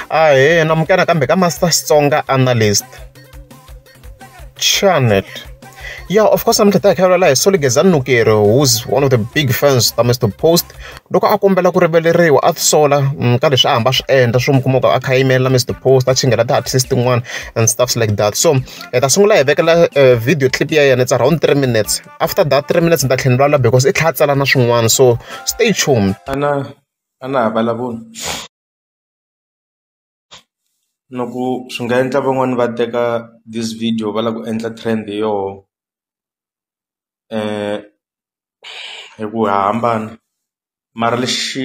ahee namukela nakambe ka master xitsonga analyst channel yeah of course namuntlha ta hi khavelela hi soligezani nukeri who's one of the big fans ta mr post loko a kombela ku riveleriwa a tisola mm, ka leswi a hamba swi endla swo mi kuma ku a kha yimela mr post a chingela ti-artist tin'wana and stuffs like that so hi ta sungula hi vekela eh, video clip ya yena it's around three minutes after that three minutes ni ta tlhela ni lwala because i tlhela a tsala na swin'wana so stay tuned ana a na ha vulavuli no ku swi nga endla van'wani va teka this video va lava ku endla trend hi yoho hi ku ha hambana mara lexi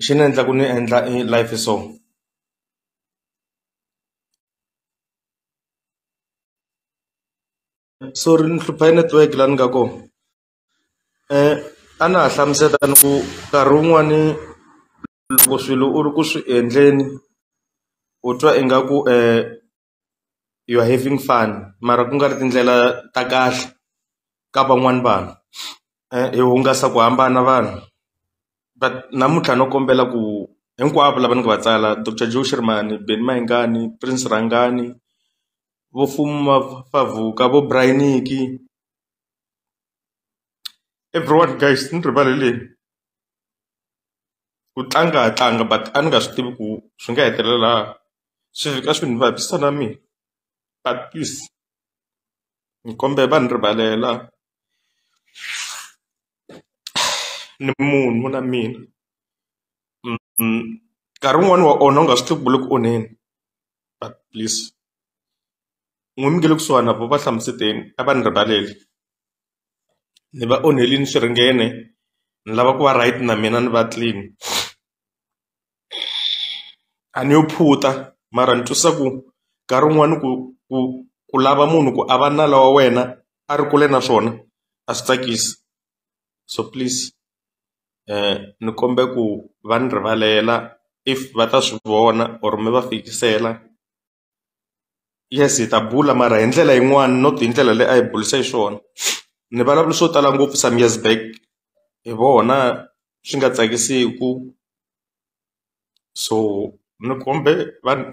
xi ni endla ku ni endla i live so sorry ni hlupha hi network la ni nga ko. a na ha hlamusela ni ku nkarhi wun'wani loko swilo u ri ku swi endleni u twa ingaku you are having fun mara ku nga ri tindlela ta kahle ka van'wani vanhu hi hungasa ku hambana vanhu but namuntlha no kombela ku hinkwavo lava ni nga va tsala Doctor Joe Shirimani, Benny Mayengani, Prince Rhangani vo Fuma Favuka, vo Braai Nikki everyone guys ni rivalele ku tlanga ha tlanga but a ni nga swi tivi ku swi nga hetelela swi fika swi ni vavisa na mina but please ni kombela va ni rivalela ni munhu na mina nkarhi wun'wani wa onha u nga swi tivi ku le ku onheni. please n'wina mi nge le kusuhani na voho va hlamuseteni a va ni rivaleli ni va onhelini swiringene ni lava ku va right na mina ni va clean a ni yo phutha mara ni twisisa ku nkarhi wun'wani ku ku ku lava munhu ku a va nala wa wena a ri kule na swona a swi tsakisi so please. ni kombela ku va ni rivalela if va ta swi vona or mi va fikisela yes hi ta bula mara hi ndlela yin'wani not hi ndlela leyi a hi burise hi swona ni vulavula swo tala ngopfu some years back hi vona swi nga tsakisiku so ni kombe va ni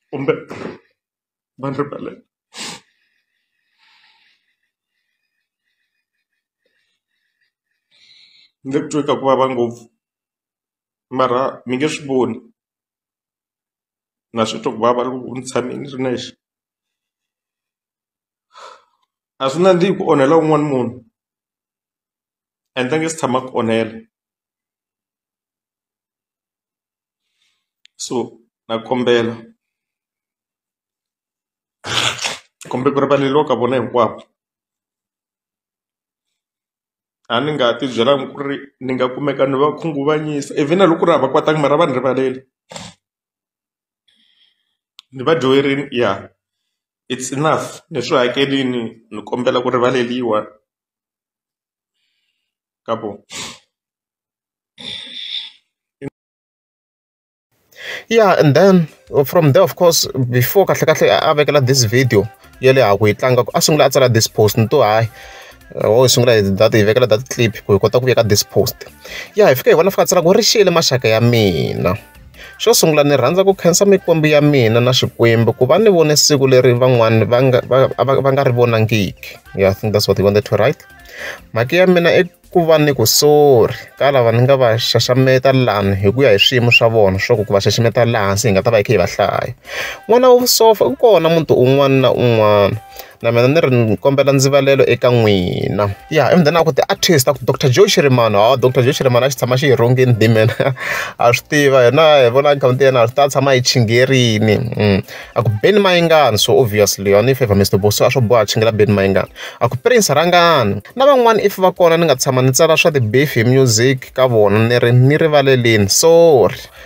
kumbe. Van Repellen. mi nge titwi ka ku vava ngopfu mara mi nge swi voni na swi twa ku vava loko ni tshame ni ri nexe a swi nandzihi ku onhela un'wana munhu and a nge si tshama a ku onhela so na kombela kumbe ku rivaleriwa ka vona hinkwavo a ni nga ti byelanga ku ri ni nga kumeka ni va khunguvanyisa even a loko ku ri a va kwatanga mara a va ni rivaleli ni va dyoherile ya it's enough ni swi hakelini ni kombela ku rivaleliwa. Kapo. Yeah and then from there of course before kahlekahle a vekela this video ya le ha ku yi tlanga a sungula a tsala this post ni to hayi wo hi sungula hi data hi vekela data clip ku hi kota ku veka this post ya hi fika hi vona fika a tsala ku ri xiyele maxaka ya mina. Xo sungula ni rhandza ku khensa mikwembu ya mina na Xikwembu ku va ni vone siku leri van'wani va nga va va va nga ri vonangiki. Yeah, I think that's what he wanted to write. Mhaka ya mina i ku va ni ku sorry ka lava ni nga va xaxameta lani hi ku ya hi swiyimo swa vona swa ku ku va xaxameta laha hansi hi nga ta va hi kha hi va hlaya. N'wana wa vusopfa u kona muti un'wana na un'wana. na mina ni ri ni kombela ndzivalelo eka n'wina ya ivi then a ku ti-artist a ku doctor joe xirimani hawa doctor joe xirimani a xi tshama xi hi rhongeni dimen a swi tiva hina hi vona akhawunti yena a swi ta tshama hi chingerini mm. a ku beni mayingani so obviously yona if ever mr boso a swo boha chingela beni mayingani a ku prince rhangani na van'wana if va kona ni nga tshama ni tsala swa ti-beef hi music ka vona ni ri ni rivaleleni sorry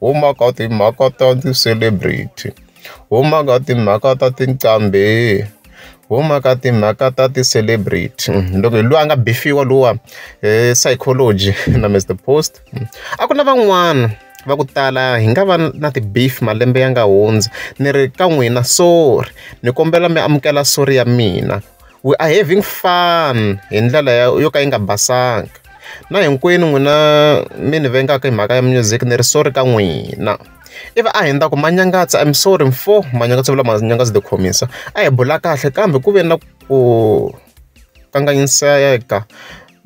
huma ka timhaka ta ti-celebrity huma ka timhaka ta tinqambi huma ka timhaka ta ti-celebrity loko hi loyi a nga bifiwa lowa hi psychology na Mister Post a ku na van'wana va ku tala hi nga va na ti-beef malembe ya nga hundzi ni ri ka n'wina sorry ni kombela mi amukela sorry ya mina. We are having fun hi ndlela yo ka yi nga basanga na hinkwenu n'wina mi ni vengaka hi mhaka ya music ni ri sorry ka n'wina ivi a hi ndza ku manyangatsa im sorry mfo manyangatsa vula manyangatsa the khomisa a hi bula kahle kambe ku ve na ku kanganyiseka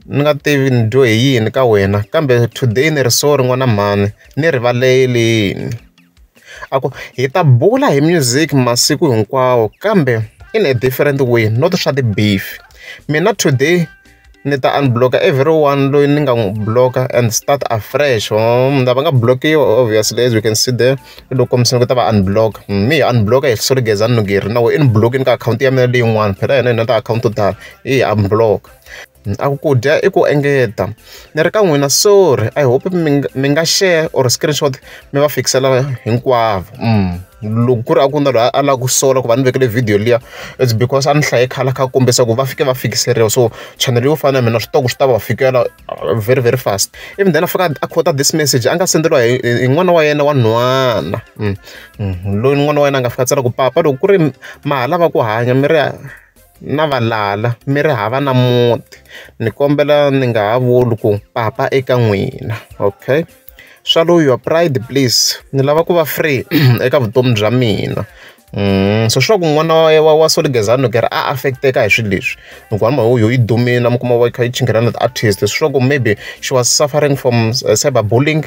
ni nga tivi ni dyo hi yini ka wena kambe today ni ri sorry n'wana mhani ni rivalelini A ku, hi ta bula hi music masiku hinkwawo kambe in a different way not swa ti-beef. Mina today ni ta unblock-a everyone loyi ni nga n'wi block-a and start afresh. Van'wana lava nga block-iwa obviously as you can see there, i lo kombisa ni ku ta va unblock-a. Me hi unblock-a hi Soli Gezani Nugeri na wena i ni block-ini ka akhawunti ya mina leyin'wani phela hina hi na tiakhawunti to tala, hi unblock-a. Ni ta ku ku dya i ku engeta. Ni ri ka n'wina sorry I hope mi nga mi nga share or screenshot mi va fikisela hinkwavo. Loko ku ri a ku na loyi a lava ku sola ku va ni vekele video liya, it's because a ni hlaye khale a kha a kombisa ku va fike va fikiseriwa. So chanele yo fana na ya mina swi tiva ku swi ta va fikela very very fast. Ivi then a fika a quote-a this message a nga send-eriwa hi hi n'wana wa yena wa nhwana. loyi n'wana wa yena a nga fika a tsala ku papa loko ku ri ma ha lava ku hanya mi ri. na valala mi ri hava na muti ni kombela ni nga ha vuli ku papa eka n'wina okay swallow your pride please ni lava ku va free eka vutomi bya mina Mm, so sure ku n'wana wa wa soligezani loko ri a affecteka hi swilo leswi loko hamba ho yo yi dumile mi kuma va yi kha yi chinghelana ti-artist sure ku maybe she was suffering from uh, cyber bullying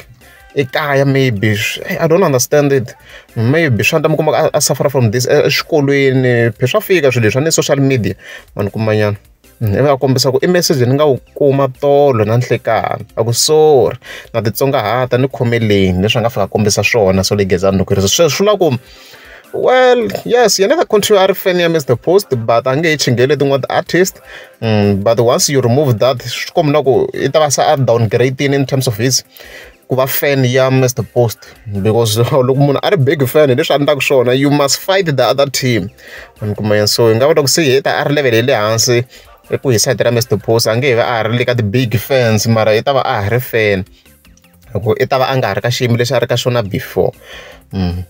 ekaya maybe i don't understand it maybe swa endla mi kuma a suffer from this eswikolweni phe swa fika swilo leswi a ni social media ma ni kumanyana mm, ivi a kombisa ku i message ni nga wu kuma tolo na nhlekani a ku sorry na titsongahata ni khomeleni leswi a nga fika kombisa swona so legezani loko ri sweswi swi la ku well yes yena ka continue a ri fan ya mr post but a nge yi chingele tin'wana ti-artist mm, but once you remove that swi kombina ku i ta va se a downgrade in terms of his ku va fan ya Mister Post because loko munhu a ri big fan hi leswi a endlaka swona you must fight the other team mi kuma yini so hi nga vula ku se heta a ri level ya le hansi eku hi side ra Mister Post a nge he va a ha ri le ka ti-big fans mara i ta va a ha ri fan loko i ta va a nga ha ri ka xiyimo lexi a ri ka xona before.